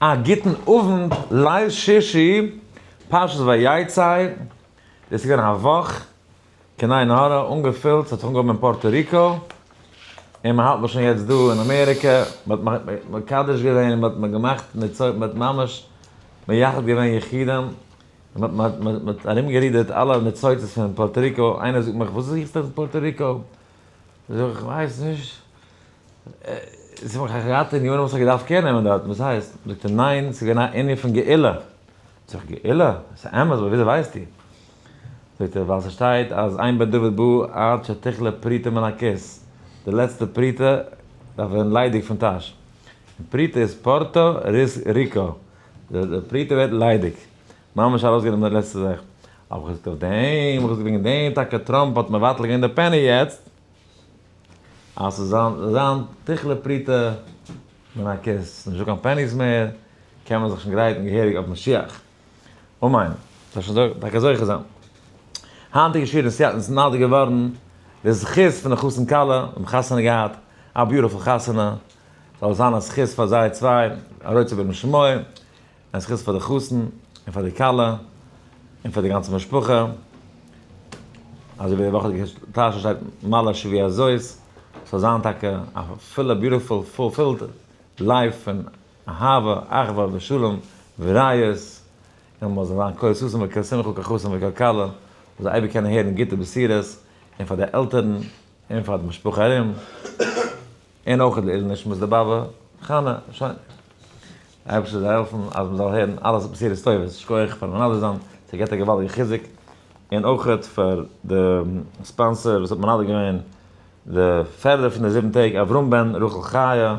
א גוטן אוונט, ליל שישי, פרשת ויצא, דאס איז געווען א וואך, קיין עין הרע, אנגעפילט, ס'האט זיך אנגעהויבן אין פארטא ריקא, און מ'האלט נאך שוין יעצט דא אין אמעריקע, מ'האט מקדש געווען, מ'האט געמאכט מצות, מ'האט ממש מייחד געווען יחידים, און מ'האט ארומגערודערט אלע ניצוצות פון פארטא ריקא, איינער זאגט מיך וואס זוכסטו אין פארטא ריקא? זאג איך, איך ווייס נישט, זאג מיך, איך געהאט אין יארן וואס איך געדארפט קער נעמען דארטן, וואס הייסט? זאגט ער, ניין, ס'איז געווען א ענין פון גאולה. זאג איך, גאולה? ס'איז אמת, אבער וויאזוי ווייסטו? זאגט ער, ווייל ס'שטייט אז אין בית דוד בא עד שתכלה פרוטה מן הכיס, די לעצטע פרוטה דארף ווערן ליידיג פון טאש. און פרוטה איז פורטא ריז ריקא, די פרוטה ווערט ליידיג, ממש ארויסגענומען די לעצטע זאך. האב איך געזאגט אויף דעם, איך האב געזאגט וועגן דעם טאקע טראמפ האט מבטל געווען די פעני יעצט. אז ס'זאל זיין זאל זיין תכלה פריטה מן הכוס, נישט דא קיין פעניס מער, קען מען זיך שוין גרייטן געהעריג אויף משיח, אמן, זאל שוין דא טאקע זוכה זיין. היינטיגע שיעור אין סיאטל איז נולד געווארן די זכות פון די חתן כלה, מיר האבן חתונה געהאט, א ביוטיפול חתונה, זאל זיין א זכות פאר זיי צוויי, א רצה בן משמוע. א זכות פאר די חתן און פאר די כלה און פאר די גאנצע משפחה, אזוי ווי די וואך האט געהערשט טאהש שטייט מלא שביע זאת, ס'זאל זיין טאקע א פולע ביוטיפול פולפילד לייף פון אהבה אחווה ושלום וריעות, און מ'זאל זיין כל ששון וכל שמחה כל חתן וכל כלה, מ'זאל אייביג קענען הערן גוטע בשורות, און פאר די עלטערן און פאר די משפחה ארום. און אויך לעילוי נשמת די באבע חנה, שוין. אייבערשטער זאל העלפן אז מען זאל הערן אלע בשורות טובות, שקויעך פארן מנדב זיין, ס'האט געהאט א געוואלדיגע חיזוק, און אויך פאר די ספאנסער וואס האט מנדב געווען די פערדער פון די זיבן טעג, אברהם בן רחל חיה,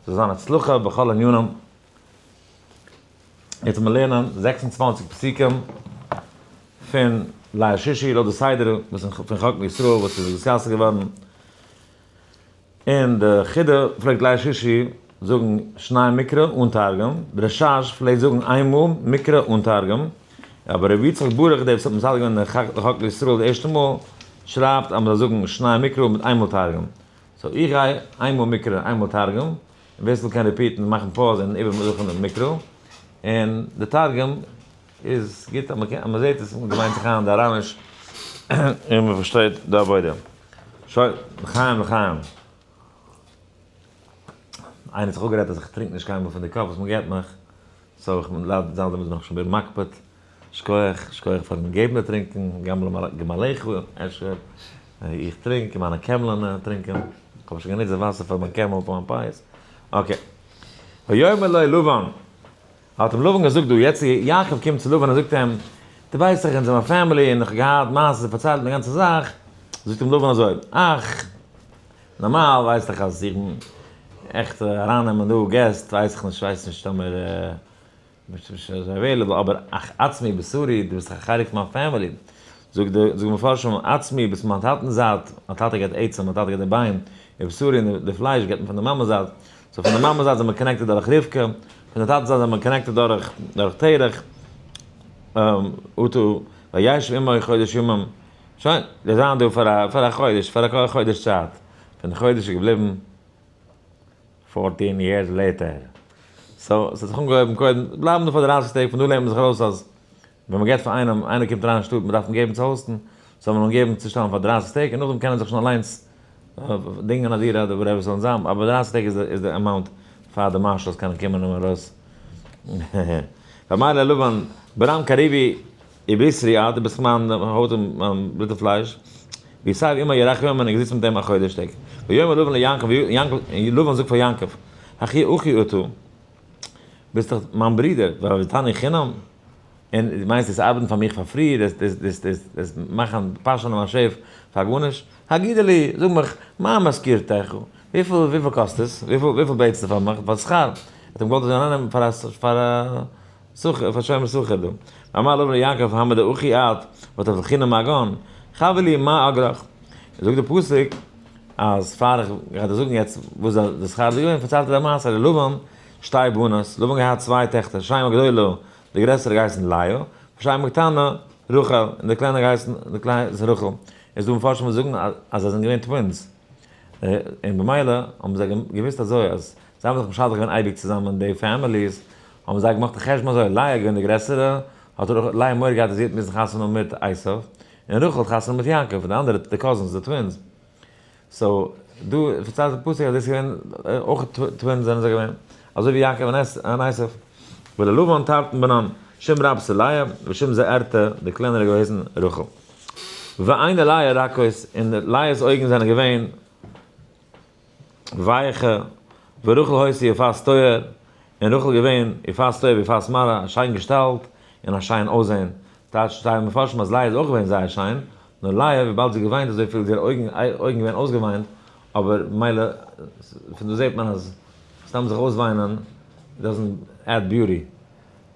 זאל זיין הצלחה בכל ענינים. יעצט וועל מען לערנען זעקס און צוואַנציק פסוקים פון ליל שישי לויט די סדר וואס פון חקל ישראל וואס איז דיסקאסד געווארן, און די חידא פלעגט ליל שישי זאגן שניי מקרא אן תרגום, די רשש פלעגט זאגן איין מאל מקרא אן תרגום, אבער רבי יצחק ברוך דער וואס האט מסדר געווען די חק לישראל די ערשטע מאל שרייבט אז מ'זאל זאגן שניי מקרא מיט איין מאל תרגום, סאו איך גיי איין מאל מקרא איין מאל תרגום, און ווער ס'וויל קען ריפיעטן מאכן פאוז און איבער זוכן די מקרא און די תרגום. איז גוט אז מ'קען אז מ'זעהט עס און געוויינט זיך איין די אראמיש און מ'פארשטייט די עבודה. שוין, לחיים לחיים. איינער האט זיך אפגערעדט אז איך טרינק נישט קיינמאל פון די קאפ וואס מ'געבט מיך, סאו איך בין ליידער זיין דערמיט בין איך שוין בין מקפיד. שכוח, שכוח פארן געבן די טרינקען, גם למלאך הוא אשר. איך טרינק און מיינע קעמלען טרינקען. איך האב שוין גענוצט די וואסער פאר מיין קעמל פאר מיין פיאות. אקעי. ויאמר לו לבן, האט אים לבן געזאגט דא יעצט איז יעקב קומט צו לבן און זאגט אים, דו ווייסט דאך אונז האבן א פעמילי און איך האב געהאט מעשה און פארציילט אים די גאנצע זאך, זאגט אים לבן אזוי, אך, נארמאל ווייסט דאך אז איך בין עכט ארייננעמען דא געסט ווייס איך נישט ווייס נישט טאמער ביסט נישט אזוי עוועילעבל אבער אך עצמי בשרי דו ביסט דאך א חלק פון מיין פעמילי, זאגט די מפרשים עצמי ביסט מיין טאטענס זייט, מיין טאטע געבט עצם מיין טאטע געבט די ביין, ובשרי און די פלייש געבט מען פון די מאמע'ס זייט, סאו פון די מאמע זייט זענען מיר קאנעקטעד דורך רבקה, פון די טאטע זייט זענען מיר קאנעקטעד דורך דורך תרח, אותו וישב עמו חודש ימים, שוין, זיי זיינען דא פאר א פאר א חודש, פאר א חודש צייט, פון די חודש איז געבליבן פארטין יערס לעיטער, סאו ס'האט זיך אנגעהויבן קודם, בלייבן דא פאר דרייסיג טעג, פון דא לערנט מען זיך ארויס אז ווען מ'געט פאר איינעם, איינער קומט אריין אין שטאט, מ'דארף אים געבן צו האוסטן, זאל מען אים געבן צו שטעלן פאר דרייסיג טעג, און נאכדעם קען ער זיך שוין אליינס דינגען א דירה אדער וואטעווער ס'זאל אים זיין, אבער דרייסיג טעג איז די אמאונט פאר די מארשאלס קענען קומען און ארויס. פאמעלע לבן, ברם קריבי איבריסרי אה, דו ביסט מיין הויט און מיין בלוט און פלייש, ווי סיי ווי אימער ירחמיאן בין איך געזיצן מיט אים א חודש טעג, ויאמר לבן ליעקב, און לבן זאגט פאר יעקב, הכי אחי אותו. ביסט דאך מיין ברודער, ואהבתני חינם, און דו מיינסט דאס ארבעטן פאר מיך פאר פרי, דאס מאכן פארשענען מיין שעף פאר גארנישט, הגידה לי, זאג מיך, מה משכורתך, וויפיל קאסט עס, וויפיל בעטסטו פאר מיך פאר שכר, ער האט אים געוואלט אזוי ארייננעמען פאר א שומר סוחר דא, ואמר לו ר' יעקב המה דאוכי את, ואתה בחינם מגון, חב לי מה אגרוך, זאגט דער פסוק, אז פאר איך גיי דיר זאגן יעצט וואס איז די שכר איז געווען, פארציילט ער די מעשה ר' לבן שתי בנות, לבן האט געהאט צוויי טעכטער, שיימא גדולה, די גרעסערע האט געהייסן לאה, ושיימא קטנה, רחל, און די קליינע האט געהייסן, די קליינע איז רחל, עס איז דא מפרשים וואס זאגן אז זיי זענען געווען טווינס, און במילא האבן זיי געוואוסט אזוי אז זיי האבן זיך משדך געווען אייביג צוזאמען די פעמיליס, האבן זיי געמאכט א חשבון אזוי, לאה איז געווען די גרעסערע, האט לאה מורא געהאט אז זי וועט מוזן חתונה האבן מיט עשיו, און רחל האט חתונה מיט יעקב און די אנדערע די קאזינס די טווינס סאו דא פארציילט די פסוק אז דאס איז געווען אויך טווינס זענען זיי געווען אזוי ווי יעקב און עשיו וללבן תרטן בנן שם רב ס' לאה ושם זעערתא די קלענערע געוועזן רחל ועיני לאה רכות און לאה אויגן זענען געווען ווייעכע, ווי רחל הויז איר פאר'ס טויער, און רחל געווען, איר פאר'ס טויער ווי פאר'ס מראה, א שיין געשטאלט, און א שיין אויסזען, טייטשט טייל מפרשים אז לאה איז אויך געווען זייער שיין, נאר לאה וויבאלד זי געוויינט אזויפיל איז איר אויגן אויגן געווען אויסגעוויינט, אבער מילא, פון דא זעט מען אז סתם זיך אויסוויינען דאזענט עד ביוטי,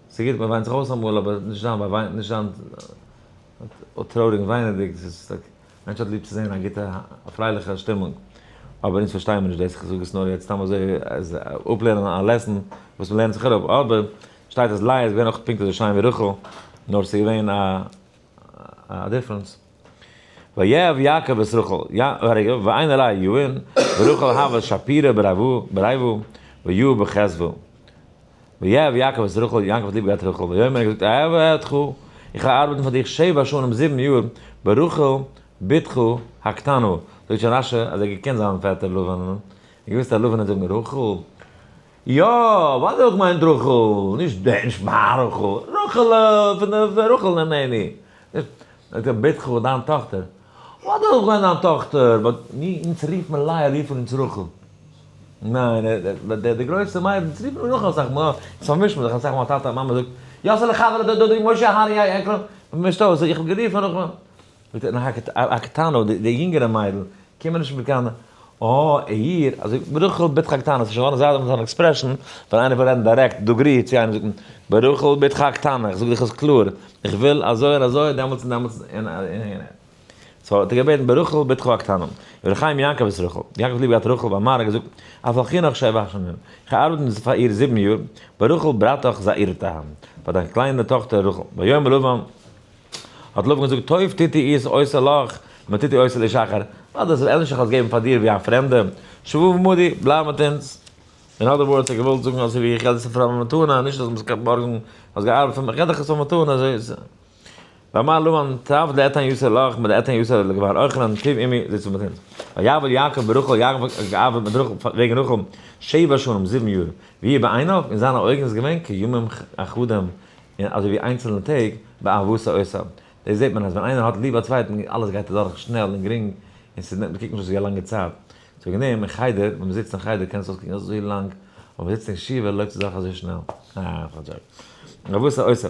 ס'איז גוט מען וויינט זיך אויס אמאל אבער נישט זיין נישט זיין טרויעריג און וויינעדיג, מענטש האט ליב צו זעהן א גוטע א פרייליכע שטימונג, אבער אונז פארשטייען מיר נישט דאס, איך זאג עס נאר יעצט סתם אזוי אז אפלערנען א לעסן וואס מען לערנט זיך אראפ, אבער שטייט אז לאה איז געווען אויך פונקט אזוי שיין ווי רחל, נאר ס'איז געווען א א דיפרענס. ויאהב יעקב את רחל, רגע, ועיין ר' יואל, ורחל אהבה שפירא ברייבא, ויואב בחסדא. ויאהב יעקב את רחל, יעקב האט ליב געהאט רחל, ויאמר ער האט געזאגט אהבה אותך, איך וועל ארבעטן פאר דיך שבע שנים זיבן יאר ברחל בתך הקטנה, זאגט שוין רש י אז ער האט געקענט זיין פעטער לבן, און געוואוסט אז לבן וועט זאגן רחל, יא, ווייל דער האט געמיינט רחל, נישט די, נישט מיין רחל, רחל'ע, פון די רחל נענעני, נישט, זאגט ער בתך דיין טאכטער. וואלט איך אויך געווען זיין טאכטער, באט מיר, אונז רופט מען לאה, רופן אונז רחל. ניין, די, די, די גרויסע מיידן, אונז רופט מען רחל אסאך מאל, אונז פארמישט מען זיך אסאך מאל, טאטע, מאמע זאגט, יאסעלע חברה דא, דודי, משה, הארי, איי, איי, קלאר, מען מישט אויס, איך האב גערופן רחל. זאגט ער, נאך א, א קטנא, די, די יונגערע מיידל, קומען נישט מיט קיין. אה, אייר, אזוי ברחל בתך הקטנה, ס'איז שוין געווארן זייט דעם אן עקספרעשאן, ווען איינער וויל רעדן דירעקט, דוגרי, צו איינעם זאגט מען, ברחל בתך הקטנה, איך זאג דיך עס קלאר, איך וויל אזוי און אזוי, דעמאלטס און דעמאלטס און און און. סאו האט ער געבעטן ברחל בתך הקטנה. רבי חיים יעקב איז רחל. יעקב האט ליב געהאט רחל ווייל מהר א האט געזאגט, אויף אל חינוך שבע שנים, איך האב געארבעט פאר איר זיבן יאר, ברחל בתך זעירתא, פאר דיין קליינע טאכטער רחל, ויאמר לבן, האט לבן געזאגט, טוב טוט איר איז עושה לך, מען טוט איר עושה לשכר, אט דאס איז ענליך איך האב עס געגעבן פאר דיר ווי א פרעמדע, שבו במודי, בלייב מיט אונז. אין אדער ווארדס, ער האט געוואלט זאגן, אזוי ווי איך געב דיר ספר אויף מתנה, נישט אז מ'זאל קענען בארגן, האסט געארבעט פאר מיך, כ'געב דיך עס אויף מתנה, אזוי איז עס. ואמר לבן, טוב לאתן יעשה לך, מען לאתן יעשה לך לגבי רחלן, טוב עמי, זיץ מיט אונז. ויעבוד יעקב ברחל, יעקב האט געארבעט מיט רחל, וועגן רחל, שבע שנים, זיבן יאר, והיא בעיניו, אין זיינע אויגן איז געווען כימים אחדים, און אזוי ווי איינצעלנע טעג, באהבת העושה. דאס זעט מען אז ווען איינער האט ליב א צווייטן, אלעס גייט אדורך שנעל און גרינג, און ס'איז נישט, מ'קוקט נישט אויס ווי א לאנגע צייט. צוליב דעם, אין חדר, ווען מ'זיצט אין חדר קען עס אויסקוקן אזוי לאנג, אבער ווען מ'זיצט אין ישיבה לויפט די זאך אזוי שנעל. באהבת העושה.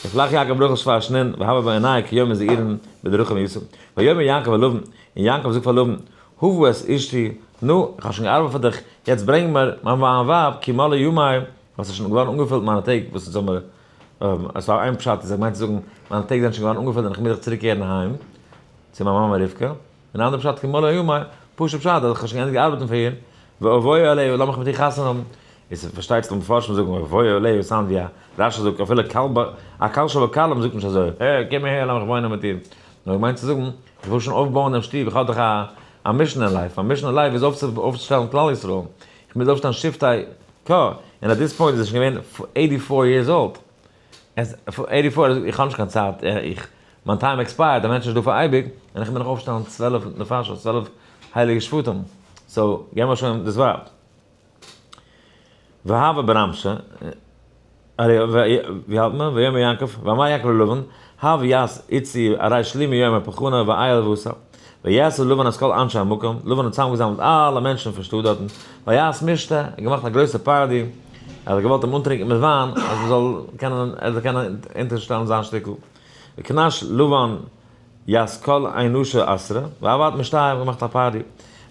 ישלח יעקב ברחל שפארשנען, והבא בעניי כיומי זעירין בדרכים יסעו. ויאמר יעקב אל לבן, און יעקב זאגט פאר לבן, הבא את אשתי, נו, איך האב שוין געארבעט פאר דיך, יעצט ברענג מיר מיין ווייב, כי מלא ימיי, וואס איז שוין געווארן אנגעפולט מיינע טעג וואס איז אמער א סאו איין פשט איז ער מיינט צו זאגן מיינע טעג זענען שוין געווארן אנגעפולט און איך מוז זיך צוריק קערן אהיים צו מיין מאמע רבקה און די אנדערע פשט כמלא ימיי פשוט פשט אז איך האב שוין געענדיגט ארבעטן פאר איר ואבוי עליה לאמיך מיט איר חתונה האבן איז פארשטייט זיך די מפרשים זאגן ואבוי עליה וואס היינט ווי א רשע זאגט אפילו כלב א קל שבקלים זאגט נישט אזוי העי קום אהער לאמיך וואוינען מיט דיר נאר ער מיינט צו זאגן איך וויל שוין אויפבויען דעם שטוב איך האב דאך א א מישן אין לייף מיין מישן אין לייף איז אויפצושטעלן כלל ישראל איך מוז אויפשטעלן שבטיי ק, און אט דיס פוינט איז ער שוין געווען עיטי פאר יערס אולד. עיטי פאר, איך האב נישט קיין צייט, איך, מיין טיים עקספייערט, א מענטש איז נישט דא פאר אייביג, און איך מוז נאך אויפשטעלן צוועלף נפשות, צוועלף הייליגע שפתים, סאו געב מיר שוין דאס ווייב. והבה ברמשה. ארי, ווי האלט מען? ויאמר יעקב, ואמר יעקב ללבן, הוו יעש איצי ארי שלימי יאמר פחנה ואייל ועשה, ויעשו לבן את כל אנשי המקום, לבן האט צוזאמגעזאמלט אלע מענטשן פון שטאט דארטן, ויעש משתה, ער האט געמאכט א גרויסע פארטי, ער האט געוואלט אים אנטרינקען מיט וויין, אז ער זאל קענען, ער זאל קענען אונטערשטעלן זיין שטיקל, וקנש לבן יעש כל אנשי עשרה, ועבד משתה, ער האט געמאכט א פארטי,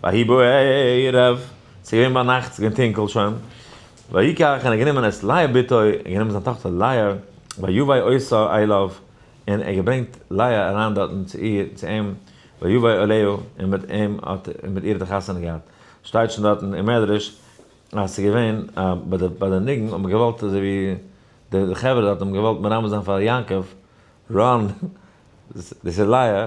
ויהי בערב, ס'איז געווען ביינאכט, ס'איז געווען טונקל שוין. ויקח און ער האט גענומען את לאה בתו און גענומען זיין טאכטער לאה ויבא אותה אליו און ער האט געברענגט לאה אריין דארטן צו איר צו אים ויבא אליה און מיט אים האט ער מיט איר האט ער חתונה געהאט שטייט שוין דארטן אין מדרש אז ס'איז געווען א ביי די ביי די ניגון האט מען געוואלט אזוי ווי די די חברה דארט האבן געוואלט מרמז זיין פאר יעקב רן דאס איז לאה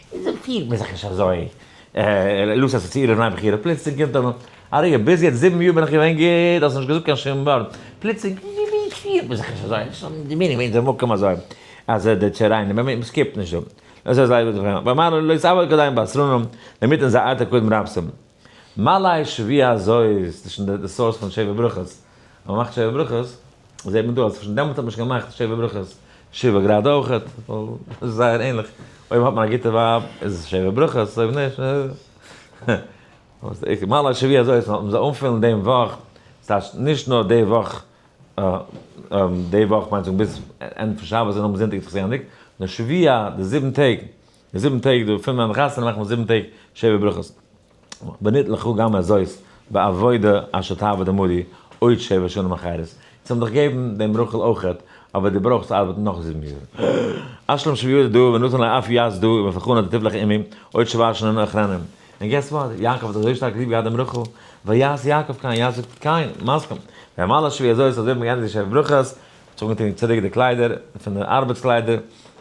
וויאזוי פירט מען זיך נישט אזוי? לאז עס צו, רעב ניין בחירה, פלוצלינג קומט א אריגע, ביז יעצט זיבן יאר בין איך געווען גוט, האסט נישט געזאגט קיין שום ווארט, פלוצלינג וויאזוי פירט מען זיך נישט אזוי? וואס האט די מינינג ווען די מקום אזוי אז די טשערעינע ווען מען סקיפט נישט דא, אזוי זיי וואס די פרעמד, ואמר לו לא יסעוה כדאי אין בשר און דערמיט אין זיי ארטער קודם רבסם. מלייש ווי אזוי איז דאס שוין די סאורס פון שבע ברכות? אז מען מאכט שבע ברכות זעט מען דא אז שוין דעמאלט האט מען שוין געמאכט שבע ברכות שבע גראד אויכעט ווייל זייער ענליך אויב האט מען א גוטע ווייב איז עס שבע ברכות אויב נישט און מלייש ווי אזוי איז מ'זאל אנפילן דעם וואך ס'הייסט נישט נאר די וואך די וואך מיינט ביז ענדע פון שבת און נאכדעם זונטאג איז זיך גענדיגט נאר שבעה די זיבן טעג די זיבן טעג דא פין מיין חתונה מאכט מען זיבן טעג שבע ברכות ונית לך גם הזאת בעבודה אשר תעבוד עמדי עוד שבע שנים אחרות זיי האבן דיך געבן דעם רחל אויכעט אבער די ברויכסט ארבעטן נאך זיבן יאר אשלם שביעית דא ונתן לך אף יז דא ובפחון אתה תבלח עמי עוד שבעה שנים אחרונים און געסט וואט יעקב האט אזוי שטארק ליב געהאט דעם רחל ויעש יעקב כן יעקב זאגט קיין מסכים ואמר לה שבי הזאת אזוי האט מען געענדיגט די שבע ברכות האט זיך אנגעטון צוריק די קליידער פין די ארבעטס קליידער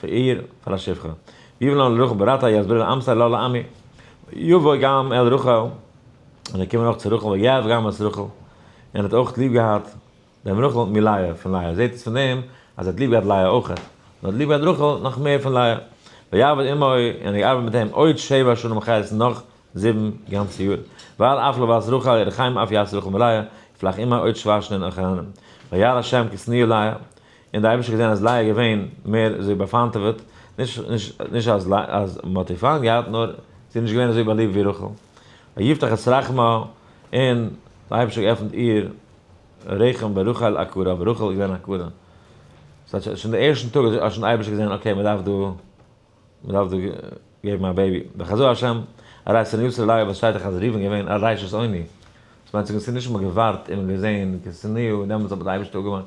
פאר איר, פאר א שפחה. ווי וועלן אל רחל בראתה יסביר אל אמסר לא לאמי. יבוא גם אל רחל, און זיי קומען אויך צו רחל, ויאהב גם את רחל, און ער האט אויך ליב געהאט דעם רחל מלאה פון לאה. זעהט אונז פון דעם אז ער האט ליב געהאט לאה אויך, און ער האט ליב געהאט רחל נאך מער פון לאה. ויעבוד עמו, און ער האט געארבעט מיט אים עוד שבע שנים חסד נאך זיבן גאנצע יאר. ואל אף לא בת רחל ירא חיים אף יעש רחל מלאה, יפלח עמה עוד שבע שנין אויך אהן אים. וירא השם כי שנאה לאה, און די אייבישטער האט געזען אז לאה איז געווען מער אזוי באפארנטעוועט, נישט אז מען האט איר פיינט געהאט, נאר זי איז נישט געווען אזוי באליבט ווי רחל, ויפתח את רחמה, און די אייבישטער האט געעפנט איר רחם ברחל עקרה, אבער רחל איז געווען עקרה, ס'הייסט שוין די ערשטן טאג האט שוין די אייבישטער געזען אקעי מען דארף דא מען דארף דא געבן א בעיבי, וחזו ה' אריי צו ניאוף ס'רעליי וואס שטייט דאך אז ראובן געווען א רישע'ס עוני, דאס מיינט ס'איז נישט מען געווארט און מען געזען כסניהו און דעמאלטס האט די אייבישטער אפגעמאכט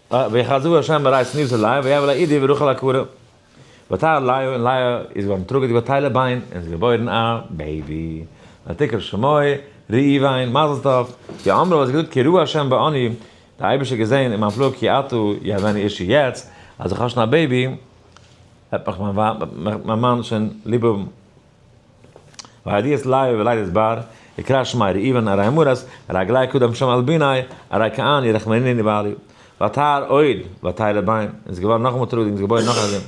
ויחזו ה' מרעי סניו צו לאה ויבא לה אידי ורחל הקבורה ותער לאה און לאה איז געווארן טראגעדיג ביי טיילע ביין און זי געבוירן א בעיבי ותקרא שמו ראובן מזל טוב כי אמרה וואס זי געזאגט כי ראה ה' בעני די אייבישטער געזען אין מיין פלא כי אתה יהבני אישי יעצט אז איך האב שוין א בעיבי וועט מיך מיין מאן שוין ליב האבן. והדיעס לייב ולידת בר, יקרא שמה ר' איוון אריי מרת, אריי גלייך קדם שם על בניי, אריי כען ירח מענין יבעלי. ותהר עוד, ותהי לבן, און ס'איז געווארן נאכאמאל טרוקן און ס'געבוירן נאך א זון.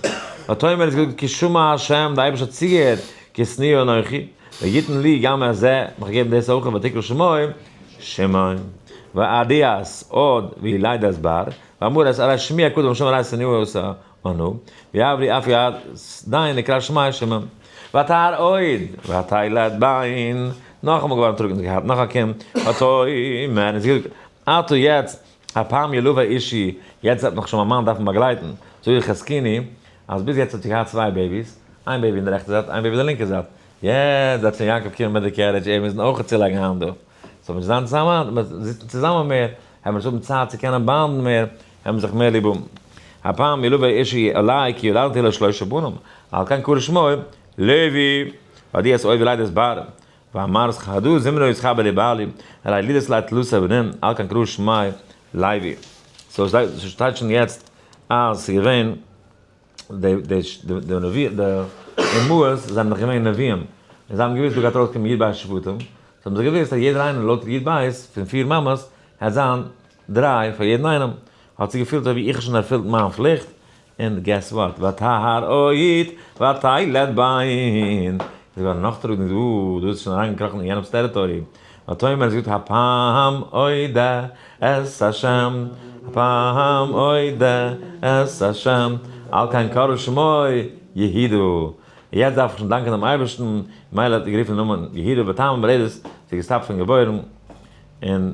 ותאמר און ס'געזאגט כי שמע ה' די אייבערשטער האט צוגעהערט כי שנאה אנכי, ויתן לי גם את זה, מיך געבן דאס אויך ותקרא שמו שמעון. והדיעס עוד ולידת בר, ואמרת אריי שמי הקדם שם אריי שנאה עשה, אנו, ויעברי אף יד דיין לקראת שמיא שמם, ותהר עוד, ותילד בן, נאכאמאל געווארן טרוקן, זי האט געהאט נאך א קינד, ותאמר, און זי האט געזאגט, אטו יעצט, הפעם ילוה אישי, יעצט וועט מיך שוין מיין מאן דארפן באגלייטן, זאג איך חזקיני, אז ביז יעצט האט זי געהאט צוויי בעיביס, איין בעיבי אין די רעכטע זייט, איין בעיבי אין די לינקע זייט, יעצט וועט שוין יעקב קומען מיט די קערידזש, ער מוזן אויך צולייגן האנט דא, ס'זאל נישט זיין צוזאמען, מ'זיצט נישט צוזאמען מער, העמיר נישט האבן צייט צו קענען באנדן מער, האבן זיך מער ליב און הפעם מלוה אישי אלי כי ילדתי לו שלשה בנים על כן קרא שמו לוי והודיע את אוהבי לידת בער ואמר סכהדו זמרו ישכר בלי בעלי אלי לידת לאה תלושה בנים על כן קרא שמו לוי סאו שטייט שוין יעצט אז ס'איז געווען די די די נביא די אמהות זענען דאך געווען נביאים און זיי האבן געוואוסט דא גייט ארויסקומען יוד בית שבטים סאו האבן זיי געוואוסט אז יעדער איינער לויט יוד בית פון פיר מאמעס גייט זיין דרײַ, פאר יעדן איינעם, האט זיך געפילט אויב איך האב שוין ערפילט מיין פליכט, און געס וואט, ותהר אוהית ותיילד בנין, זי געווארן נאכטראגנדיג, דא, דא איז שוין אריינגעקראכן אין יענעמ'ס טעריטארי, ותאמר האט געזאגט הפעם אודה את השם, הפעם אודה את השם, על כן קרא שמו יהידו, יעצט דארף איך שוין דאנקען דעם אייבערשטן, ממילא האט ער גערופן דעם נאמען יהידו, בטעם המולדת, זי איז געסטאפט פון געבוירן, און.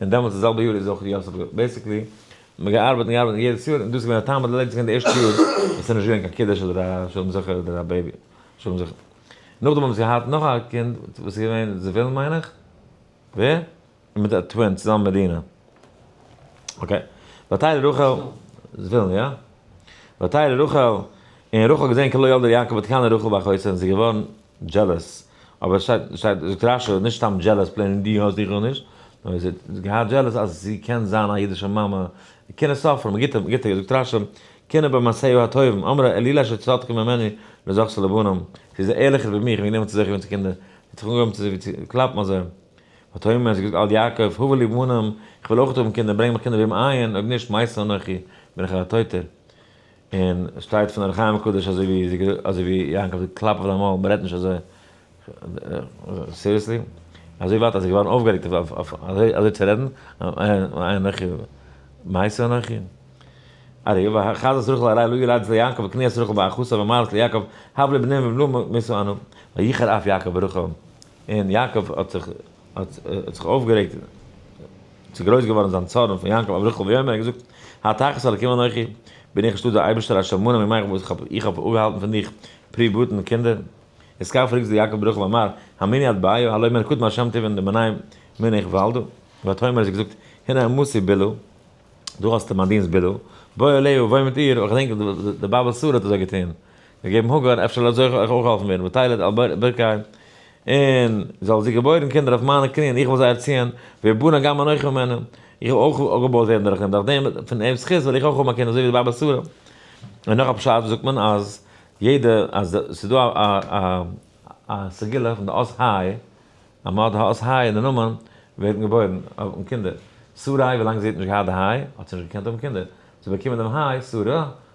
און דעמאלטס די זעלבע יאר איז אויך ר' יוסף געווען, בעסיקלי האט מען געארבעט און געארבעט און יעדעס יאר און דאס איז געווען א טעם אז די לעדיס גייען די ערשטע יאר וואס ס'איז נישט געווען קיין קידוש אדער א שלום זכר אדער א בעיבי שלום זכר, נאכדעם האבן זיי געהאט נאך א קינד וואס איז געווען זבולון מיין איך, ווער? און מיט א טווין צוזאמען מיט דינה, אקעי, ותהי לרחל, זבולון יא? ותהי לרחל, און רחל האט געזען כי לא ילדה ליעקב ותקנא רחל באחותה און זי איז געווארן. דזשעלעס, אבער שטייט שטייט דרשה נישט סתם דזשעלעס פלעין און דו האסט איך האב נישט, נאר זי האט געהאט דזשעלעס אז זי קען זיין א אידישע מאמע, קענער סופרים, א גוטער גוטער זאגט רש י, קענער במעשיו הטובים, אמרה אלילה שצדקה ממני לא זכתה לבנים, זי איז ערליכער ווי מיר, איך בין גענומען צו זיך געבן צו קינדער, זי האט זיך אנגעהויבן צו זיך קלאפן אזוי, ותאמר, זי האט געזאגט על יעקב, הבה לי בנים, איך וויל אויך האבן קינדער, ברענג מיך קינדער וועם עיין, אויב נישט מייסר אנכי, בין איך א טויטער. און עס שטייט פון אור החיים הקדוש אזוי ווי זי געזאגט אזוי ווי יעקב זאגט קלאפ אויף דיין מויל מען רעדט נישט אזוי סיריעסלי אזוי ווייט אז זי איז געווארן אויפגערעגט אויף אויף אזוי צו רעדן איי אנכי מעשה אנכי ארי ו חזס רחל אריי לוי רייד צו יעקב וקניאס רחל באחותה ואמרת ליעקב הב לי בנים ובלו מסו אנו ויחר אף יעקב ברחל און יעקב האט זיך האט זיך אויפגערעגט און ס'איז גרויס געווארן זיין צארן פון יעקב אויף רחל ויאמר ער האט געזאגט האתכס אלקים אנכי בין איך נישט דא דער אייבערשטער א שמנים מימיך וואס איך האב אפגעהאלטן פון דיך פרי בטן און קינדער איז כעת פרעגסט דו יעקב ברחל ואמר המיני את בעיה הלא מלקוט מהשם תבן די מנין בין איך וואלדא ותאמר האט זי געזאגט הנה אמתי' בילא דא האסטו מיין דינסט בילא בוא אלי' וואוין מיט איר אויך געדענק די באבע שרה האט אזוי געטון געגעבן הגר אפשר לאזוי איך אויך געהאלפן ווערן ותלד על ברכי און זאל זי געבוירן קינדער אויף מיינע קני און איך וועל זיי ערציען, ואבנה גם אנכי ממנה, איך וועל אויך אפגעבוירט ווערן דורך אים, דורך דעם פון אים'ס זכות וועל איך אויך האבן א קינד אזוי ווי די באבע שרה. און נאך א פשט וואס זאגט מען אז יעדע אז ס'איז דא א א א סגולה פון די אות ה', אז מען האט די אות ה' אין די נאמען ווערט מען געבוירן האבן קינדער. שרי' ווילאנג זי האט נישט געהאט די ה' האט זי נישט געקענט האבן קינדער, זי האט באקומען דעם ה' שרה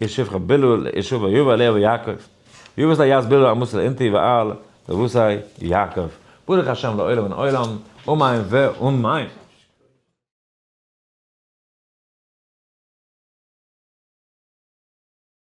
ישוב כ בילא לישוב ויבא ליה ויעקב, ויבא סלה יז בילא אמוס לאינתי ואל לבוסי יעקב, ברוך השם לעולם מן עולם, אמן ואמן.